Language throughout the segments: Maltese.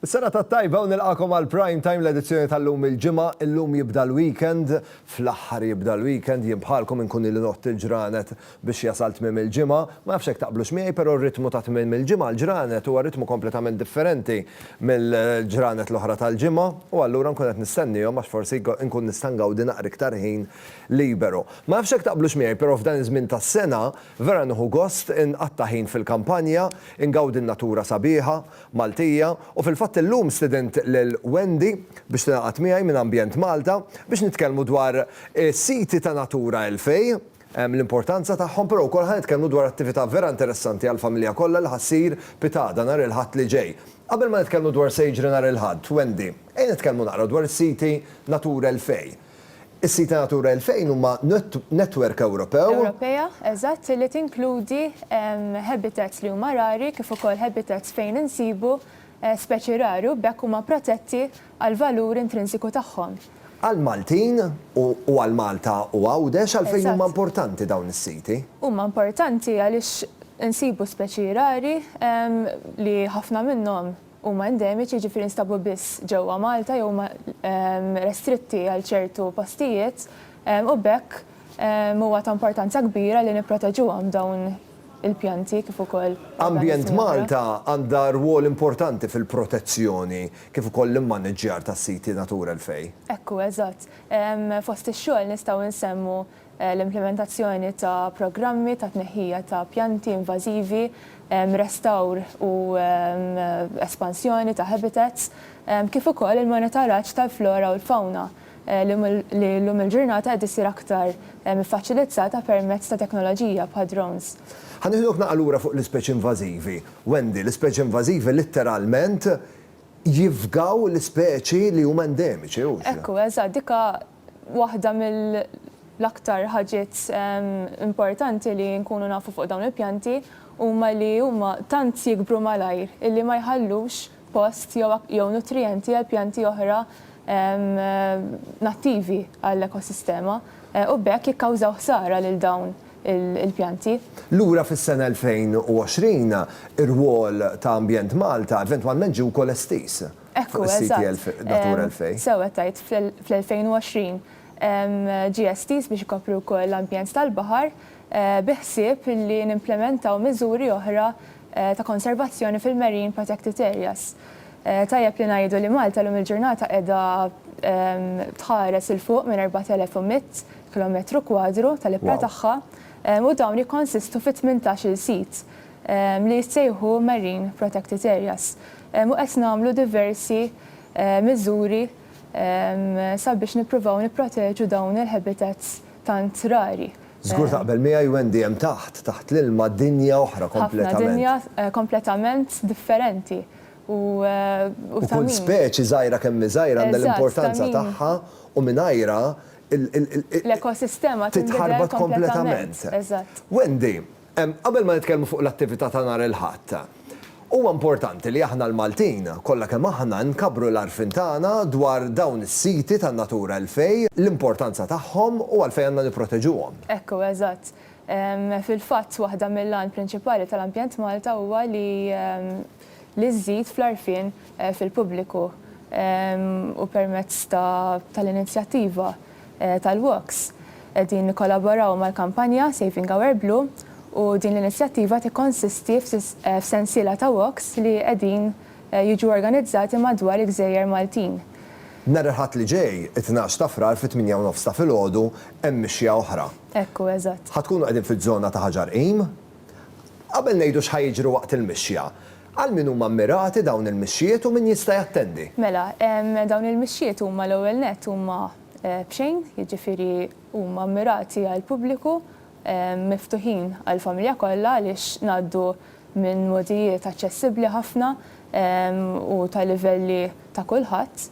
Is-serata t-tajba u nilqagħkom għal Prime Time l-edizzjoni tal-lum il-Ġimgħa, illum jibda l-weekend, fl-aħħar jibda l-weekend, jien bħalkom inkun ili ngħodd il-ġranet biex jasal tmiem il-ġimgħa, ma nafx jekk taqblux miegħi però r-ritmu ta' tmiem il-ġimgħa l-ġranet huwa ritmu kompletament differenti mill-ġranet l-oħra tal-ġimgħa u allura nkun qed nistennihom għax forsi nkun nista' ngawdi naqra iktar ħin liberu. Ma nafx jekk taqblux miegħi però f'dan iż-żmien tas-sena vera nieħu gost inqatta' ħin fil-kampanja, ingawdi n-natura sabiħa, Maltija, u fil-fatt illum stidint lil Wendy biex tingħaqad miegħi minn Ambjent Malta biex nitkellmu dwar is-siti ta' Natura 2000, l-importanza tagħhom, però wkoll ħa nitkellmu dwar attività vera interessanti għall-familja kollha li ħa ssir pitgħada nhar il-Ħadd li ġej. Qabel ma nitkellmu dwar se jiġri nhar il-Ħadd, Wendy, ejja nitkellmu naqra dwar is-siti Natura 2000. Is-sit Natura 2000 huma netwerk Ewropew. Ewropea, eżatt, li tinkludi habitats li huma rari kif ukoll habitats fejn insibu speċi rari u b'hekk huma protetti għall-valur intrinsiku tagħhom. Għall-Maltin u għal Malta u Għawdex għalfejn huma importanti dawn is-siti? Huma importanti għaliex insibu speċi rari li ħafna minnhom, Huma endemiċi jiġifieri jinstabu biss ġewwa Malta jew huma restritti għal ċertu postijiet u b'hekk huwa ta' importanza kbira li nipproteġuhom dawn il-pjanti kif ukoll Ambjent Malta għandha rwol importanti fil-protezzjoni kif ukoll l-immaniġġjar tas-siti Natura 2000. Hekk hu, eżatt. Fost ix-xogħol nistgħu nsemmu l-implimentazzjoni ta' programmi ta' tneħħija ta' pjanti invażivi, restawr u espansjoni ta' habitats, kif ukoll il-monitoraġġ tal-flora u l-fawna, li llum il-ġurnata qed issir aktar iffaċilizzata permezz ta' teknoloġija bħal drones. Ħa nieħduk naqra lura fuq l-ispeċi invażivi. Wendy, l-ispeċi invażivi litteralment jifgaw l-ispeċi li huma endemiċi, hux? Ekku, eżatt, dik waħda mill-aktar ħaġiet importanti li nkunu nafu fuq dawn il-pjanti huma li huma tant jikbru malajr illi ma jħallux post jew nutrijenti għal pjanti oħra nattivi għall-ekosistema u b'hekk jikkawżaw ħsara lil dawn il-pjanti. Lura fis-sena 2020, ir-rwol ta' Ambjent Malta eventwalment ġie wkoll estiż. Ekku, eżatt. Natura 2000. Sewwa tajt, fl-2020 hemm GSTs biex ikopru wkoll l-ambjent tal-baħar bi ħsieb li nimplimentaw miżuri oħra ta' konservazzjoni fil-marine protected areas. Tajjeb li ngħidu li Malta llum il-ġurnata qiegħda tħares 'il fuq minn 4,100 kilometru kwadru tal-ibħra tagħha u dawn jikkonsistu fi tmintax-il sit. li jissejħu marine protected areas u qed nagħmlu diversi miżuri sabiex nippruvaw nipproteġu dawn il-habitats tant rari. Żgur taqbel miegħi Wendy hemm taħt, taħt l-ilma dinja oħra kompletament. Ħafna dinja kompletament differenti u ta' min. U kull speċi żgħira kemm hi żgħira għandha l-importanza tagħha u mingħajrha l-ekosistema titħarbat kompletament. Eżatt. Wendy, Qabel ma nitkellmu fuq l-attività ta' nhar il-Ħadd, huwa importanti li aħna l-Maltin, kollha kemm aħna, nkabbru l-għarfien tagħna dwar dawn is-siti tan-Natura 2000, l-importanza tagħhom u għalfejn għandna nipproteġuhom. Ekku, eżatt. Fil-fatt, waħda mill-għan prinċipali tal-Ambjent Malta huwa li li żżid fl-għarfien fil-pubbliku u permezz ta' tal-inizjattiva tal-Walks. Qegħdin nikkolaboraw mal-kampanja Saving Our Blue u din l-inizjattiva tikkonsisti f'sensiela ta' walks li qegħdin jiġu organizzati madwar il-gżejjer Maltin. Nhar il-Ħadd li ġej, it-tnax ta' Frar fit-tmienja u nofs ta' filgħodu hemm mixja oħra. Ekku, eżatt. Ħa tkunu qegħdin fiż-żona ta' Ħaġar Qim. Qabel ngħidu x'ħa jiġri waqt il-mixja, għal min huma mmirati dawn il-mixjiet u min jista' jattendi? Mela, dawn il-mixjiet huma l-ewwel nett huma b'xejn, jiġifieri huma mmirati għall-pubbliku, miftuħin għall-familja kollha għaliex ngħaddu minn mogħdijiet aċċessibbli ħafna u ta' livelli ta' kulħadd.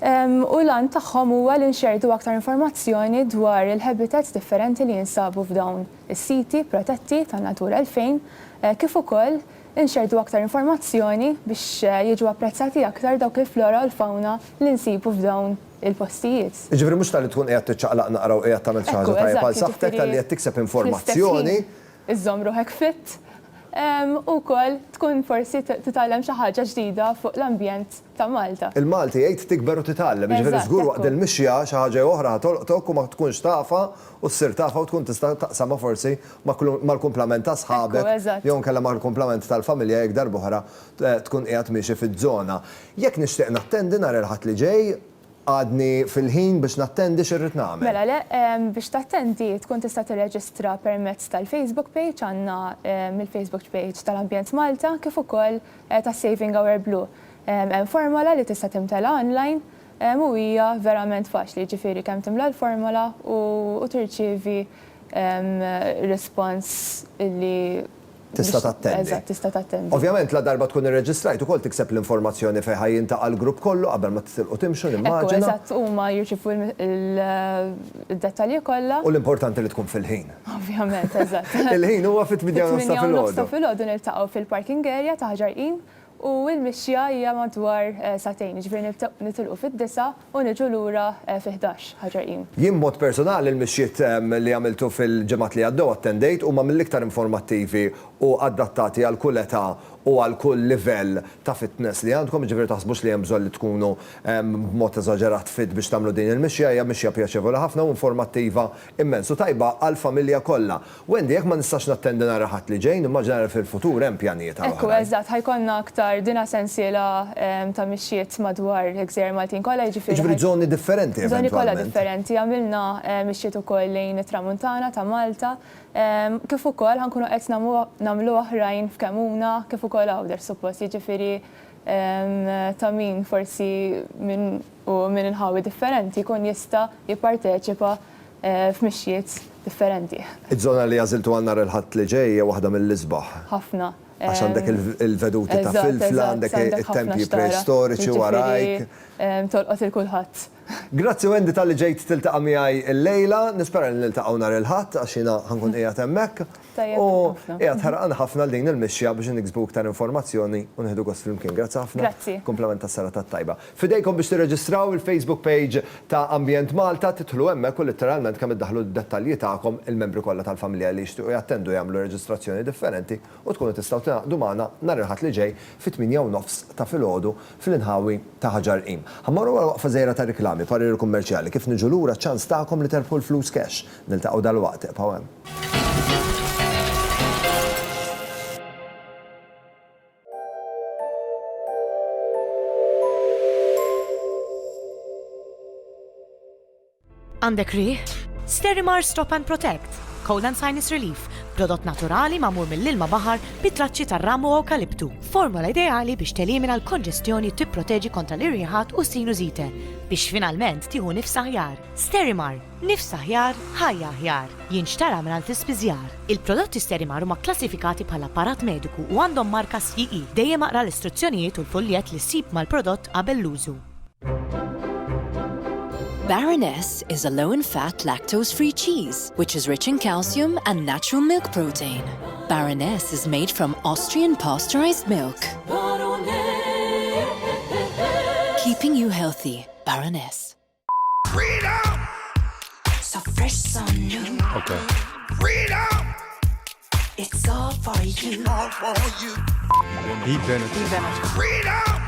U l-għan tagħhom huwa li nxerrdu aktar informazzjoni dwar il-habitats differenti li jinsabu f'dawn is-siti protetti tan-Natura 2000, kif ukoll inxerrdu aktar informazzjoni biex jiġu apprezzati aktar dawk il-flora u l-fawna li nsibu f'dawn il-postijiet. Jiġifieri mhux talli tkun qiegħed tiċċaqlaq naqra u qiegħed tagħmel xi ħaġa tajjeb għal saħħtek, talli qed tikseb informazzjoni. Fl-istess ħin iżżomm ruħek fit u wkoll tkun forsi titgħallem xi ħaġa ġdida fuq l-ambjent ta' Malta. Il-Malti jgħid tikber u titgħallem, jiġifieri żgur waqt il-mixja xi ħaġa jew oħra ħa tolqtok u ma tkunx tafha u ssir tafha u tkun tista' taqsamha forsi mal-kumplament ta' sħabek jew inkella mal-kumplament tal-familja jekk darb'oħra tkun qiegħed miexi fiż-żona. Jekk nixtieq nattendi nhar il-Ħadd li ġej, Għadni fil-ħin biex nattendi x'irrid nagħmel? Mela le, biex tattendi tkun tista' tirreġistra permezz tal-Facebook page għandna mill-Facebook page tal-Ambjent Malta kif ukoll ta' Saving Our Blue. Hemm formola li tista' timtela online u hija verament faċli, jiġifieri kemm timla l-formola u tirċievi rispons li tista' tattendi. Eżatt, tista' tattendi. Ovvjament ladarba tkun irreġistrajt ukoll tikseb l-informazzjoni fejn ħa jintaqa' l-grupp kollu qabel ma titilqu timxu nimmaġina. Ekku, eżatt, huma jirċievu l-dettalji kollha. U l-importanti li tkun fil-ħin. Ovvjament, eżatt. Il-ħin huwa fit-tmienja u nofs ta' filgħodu. Fit-tmienja u nofs ta' filgħodu niltaqgħu fil-parking area ta' Ħaġar Qim. U l-mixja hija madwar sagħtejn, jiġifieri nibdew nitilqu fid-disgħa u niġu lura fi ħdax ħaġarqim. Jien b'mod personali il-mixjiet li għamiltu fil-ġimgħat li għaddew attendejt huma mill-iktar informattivi u adattati għal kull età u għal kull livell ta' fitness li għandkom, jiġifieri taħsbux li hemm bżonn li tkunu b'mod eżaġerat fit biex tagħmlu din il-mixja, hija mixja pjaċevoli ħafna u informattiva immens u tajba għall-familja kollha. Wendy, jekk ma nistax nattenda nhar il-Ħadd li ġej, nimmaġina nara fil-futur hemm pjanijiet għal oħrajn. Ekku, eżatt, ħa jkollna aktar din ha sensiela ta' mixjiet madwar il-gżejjer Maltin kollha, jiġifieri ħa. Jiġifieri żoni differenti eventwalment. Żoni kollha differenti. Għamilna mixjiet ukoll lejn it-Tramuntana ta' Malta, kif ukoll ħa nkunu qed nagħmlu oħrajn f'Kemmuna kif ukoll Għawdex suppost, jiġifieri ta' min forsi minn u minn inħawi differenti jkun jista' jipparteċipa f'mixjiet differenti. Iż-żona li għażiltu għal nhar il-Ħadd li ġej hija waħda mill-isbaħ. Ħafna. Għax għandek il-veduti ta' Filfla, għandek it-tempji preistoriċi warajk. Jiġifieri tolqot lil kulħadd. Grazzi Wendy talli ġejt tiltaqa' miegħi llejla. Nispera li niltaqgħu nhar il-Ħadd għax jiena ħa nkun qiegħed hemmhekk. U qiegħed ħerqan ħafna għal din il-mixja biex niksbu iktar informazzjoni u nieħdu gost flimkien. Grazzi ħafna. Kumplament tas-serata t-tajba. F'idejkom biex tirreġistraw il-Facebook page ta' Ambjent Malta, tidħlu hemmhekk u litteralment kemm iddaħħlu d-dettalji tagħkom, il-membri kollha tal-familja li jixtiequ jattendu jagħmlu reġistrazzjoni differenti u tkunu tistgħu tingħaqdu magħna nhar il-Ħadd li ġej fit-tmienja u nofs ta' filgħodu fl-inħawi ta' Ħaġar Qim. Ħa mmorru għal waqfa żgħira tar-riklami, pariri kummerċjali, kif niġu lura ċ-ċans tagħkom li terbħu l-flus cash. Niltaqgħu dalwaqt, ibqgħu hemm. Għandek riħ? Sterimar Stop and Protect, Cold and Sinus Relief, prodott naturali magħmur mill-ilma baħar bi traċċi tar-ramu eukaliptu. Formola ideali biex telimina l-konġestjoni tipproteġi kontra l-irriħat u sinusite biex finalment tieħu nifs aħjar. Sterimar Nifs aħjar, ħajja aħjar. Jien xtara mingħand l-ispiżjar. Il-prodotti Sterimar huma kklassifikati bħala apparat mediku u għandhom marka SIE. Dejjem aqra l-istruzzjonijiet u l-fuljett li ssib mal-prodott qabel l-użu. Baroness is a low in fat lactose free cheese which is rich in calcium and natural milk protein. Baroness is made from Austrian pasteurized milk. Keeping you healthy, Baroness. Okay. Freedom! It's all for you. All for you. He Bennett. He Bennett. Freedom!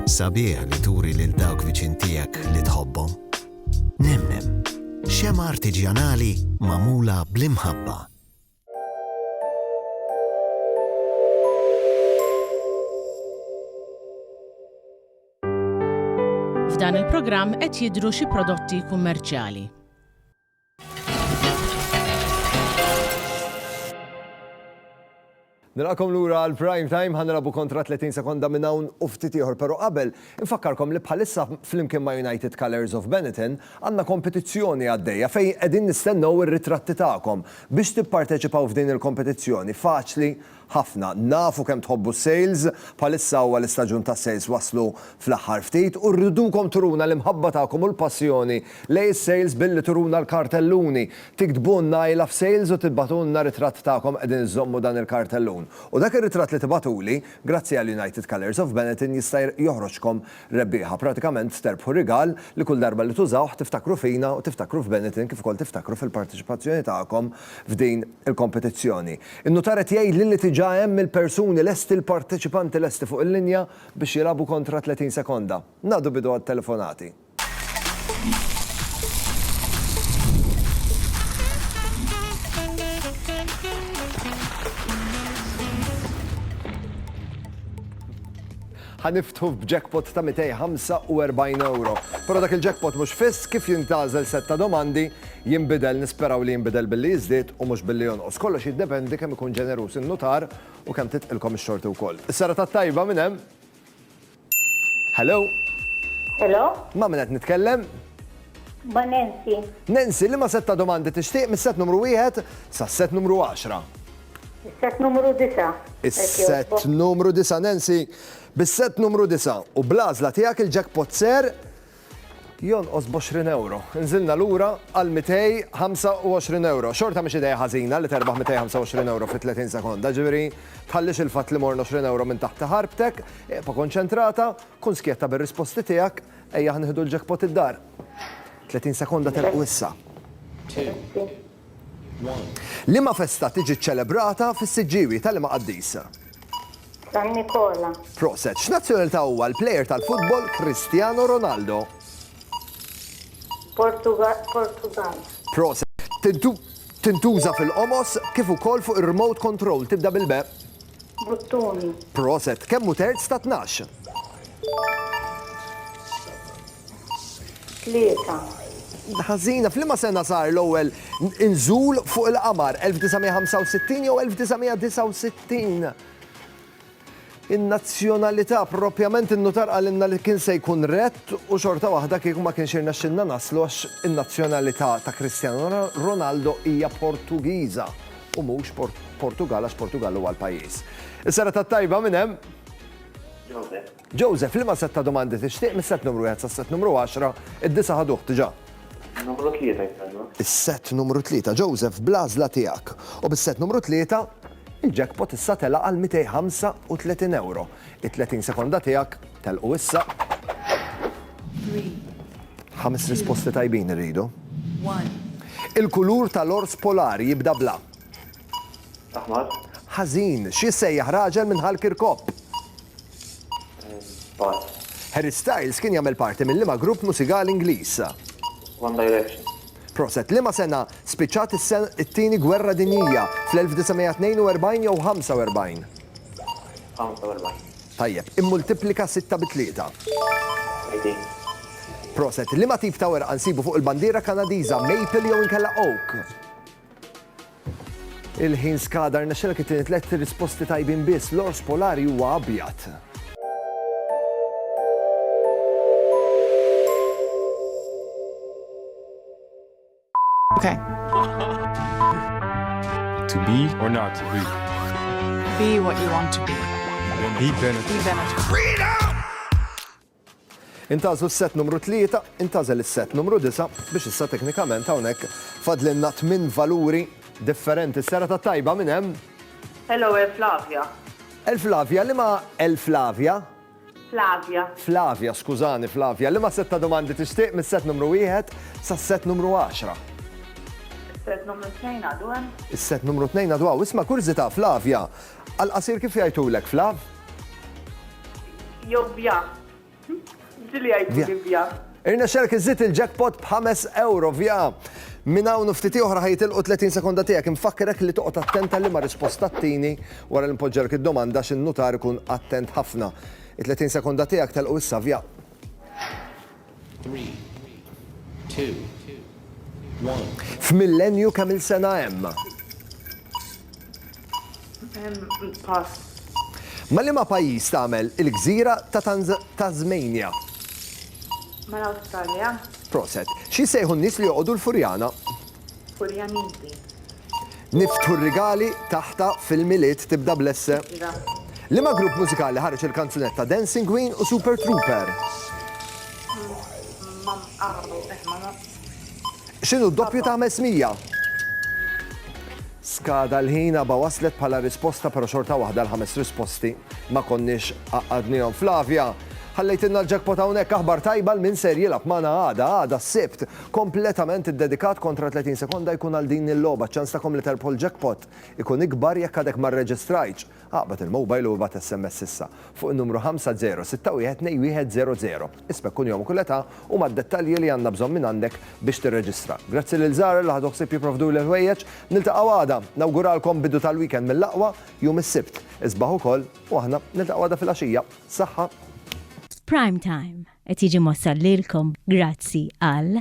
Sabiħ li turi lil dawk viċin tiegħek li tħobbhom. Nemnem, xem artiġjanali mamula bl-imħabba. F'dan il-programm qed jidhru xi prodotti kummerċjali. Nilqakom lura għal prime time ħanrabu kontra 30 sekonda minn hawn u ftit ieħor, però qabel Infakkarkom li bħalissa flimkien ma' United Colours of Benetton għandna kompetizzjoni għaddejja fejn qegħdin nistennew ir-ritratti tagħkom. Biex tipparteċipaw f'din il-kompetizzjoni faċli ħafna. Nafu kemm tħobbu s-sales, bħalissa huwa l-istaġun tas-sales waslu fl-aħħar ftit u rridukom turuna l-imħabba tagħkom u l-passjoni lejn is-sales billi turuna l-kartelluni. Tiktbulna I love sales u tibgħatulna ritratt tagħkom qegħdin iżommu dan il-kartellun. U dak ir-ritratt li tibgħatuli, Grazzi għal United Colours of Benetton jista' joħroġkom rebbieħa. Pratikament terbħu rigal li kull darba li tużawh tiftakru fina u tiftakru f'Benetton kif ukoll tiftakru fil-parteċipazzjoni tagħkom f'din il-kompetizzjoni. In-nutar qed jgħidli li tiġà hemm il-persuni lesti, l-parteċipanti lesti fuq il-linja biex jilagħbu kontra 30 sekonda. Nagħdu bidu għat-telefonati. ħaniftħu b'jackpot ta' 245 euro. Pero dak il-jackpot mhux fiss kif jintażel setta domandi jinbidel nisperaw li jinbidel billi jiżdied u mhux billi jonqos. Kollox jiddependi kemm ikun ġenerus in-nutar u kemm titqilkom ix-xorti wkoll. Is-sara tat-tajba minn hemm! Hello? Hello? Ma' min qed nitkellem? Ma' Nancy. Nancy, li ma' set ta' domandi tixtieq mis-set numru wieħed sa' set numru 10? Is-set numru 9. Is-set numru 9, Nancy. Bis-set numru 9 u bl-għażla tiegħek il-jackpot ser Jonqos b'għoxrin ewro. Nżilna lura għal 225 ewro. Xorta mhix idea ħażina li terbaħ 225 ewro fi 30 sekonda, ġifieri tħallix il-fatt li morna 20 ewro minn taħt ħarbtek, ibqa' konċentrata, kun skjetta bir-risposti tiegħek, ejjaħ nieħdu l-jackpot id-dar. 30 sekonda telqu issa. Liema festa tiġi ċċelebrata fis-Siġġiewi ta' liema qaddis? San Nikola. Proset. X'nazzjonalità huwa l-plejer tal-futbol Cristiano Ronaldo? Portugal. Proset. Tintuża fil-qomos kif ukoll fuq ir-remote control tibda bil-be? buttuni. Proset, kemm hu terz ta' tnax? Tlieta. Ħażina, f'liema sena sar l-ewwel inżul fuq il-qamar, 1965 jew 1969? In-nazzjonalità proprjament in-nutar qalilna li kien se jkun rett u xorta waħda kieku ma kienx irnexxilna naslu għax in-nazzjonalità ta' Cristiano Ronaldo hija Portugiża. u mhux Portugal għax Portugal huwa l-pajjiż. Is-serata t-tajba minn hemm? Joseph. Joseph, liema sett ta' domandi tixtieq mis-sett numru wieħed sas-sett numru għaxra, id-disa' ħaduh diġà. Numru tlieta jkollna. Is-sett numru tlieta, Joseph, bl-għażla tiegħek. U bis-sett numru tlieta, il-jackpot issa tela' għal 235 ewro. It-30 sekonda tiegħek telqu issa. Ħames risposti tajbin irridu. Il-kulur tal-ors polari jibda bl-A. Aħmar. Ħażin. X'jissejjaħ raġel minn Ħal Kirkop? Pass. Harry Styles kien jagħmel parti minn liema grupp musigali Ingliż? One Direction. Proset. Liema sena spiċċat it-Tieni Gwerra Dinjija, fl-1942 jew 45? 45. Tajjeb, immultiplika sitta bi tlieta. Qiegħdin. Proset. Liema tip ta' werqa nsibu fuq il-bandiera Kanadiża, maple jew inkella oak? Il-ħin skada, rnexxilek it-tieni tliet risposti tajbin biss, l-ors polari huwa abjad. Okay. to be or not to be. Be what you want to be. Be Bennett. Be Bennett. Freedom! Intażu s-set numru 3, intażel is-set numru 9 biex issa teknikament hawnhekk fadlinna tmien valuri differenti. Sera ta' tajba minn hemm. Hello, El Flavia. El Flavia, li ma El Flavia? Flavia. Flavia, skużani, Flavia, liema sett ta' domandi tixtieq mis-sett numru wieħed sas-sett numru għaxra? Is-sett numru tnejn għadu hemm. Is-sett numru tnejn għadu hawn. Isma' kurżità, Flavia, għall-qasir kif jgħidulek, Flav? Jew Vja. Ġieli jgħiduli Vja. Irnexxelk iżżid il-jackpot b'ħames ewro, vja! Minn hawn u ftit oħra ħa jitilqu 30 sekonda tiegħek. Infakkrek li toqgħod attent għal liema risposta ttini wara li npoġġelek id-domanda għax in-nutar ikun attent ħafna. It-30 sekonda tiegħek telqu issa, vja! F'millennju kemm-il sena hemm? Pass. Ma' liema pajjiż tagħmel il-gżira ta' Tasmania? Mal-Awstralja. Proset. X'jissejħu n-nies li joqogħdu l-furjana? Furjaniżi. Niftħu r-rigali taħtha fil-Milied tibda bl-esse? Iva. Liema grupp mużikali ħareġ il-kanzunetta Dancing Queen u Super Trooper? X'inhu d-doppju ta' 500? Skada l-ħin aba waslet bħala risposta però xorta waħda l-ħames risposti ma konniex qaqqadnihom. Flavia, ħallejtilna l-jackpot hawnhekk aħbar tajba l min ser jilgħab magħna għada, għada s-Sibt, kompletament iddedikat kontra 30 sekonda jkun għal din il-logħba. Ċ-ċans tagħkom li terbħu l-jackpot ikun ikbar jekk għadek ma rreġistrajtx. Aqbad il-mowbajl u ibgħat SMS issa, fuq in-numru 50612100. Ismek, kunjomok u l-età huma d-dettalji li għandna bżonn mingħandek biex tirreġistra. Grazzi lil Zara li ħadu ħsieb jipprovduli l-ħwejjeġ. Niltaqgħu għada. Nawguralkom bidu tal-weekend mill-aqwa, jum is-Sibt. Isbaħ ukoll, u aħna niltaqgħu għada filgħaxija. Saħħa! Prime Time qed jiġi mwassal lilkom grazzi għal.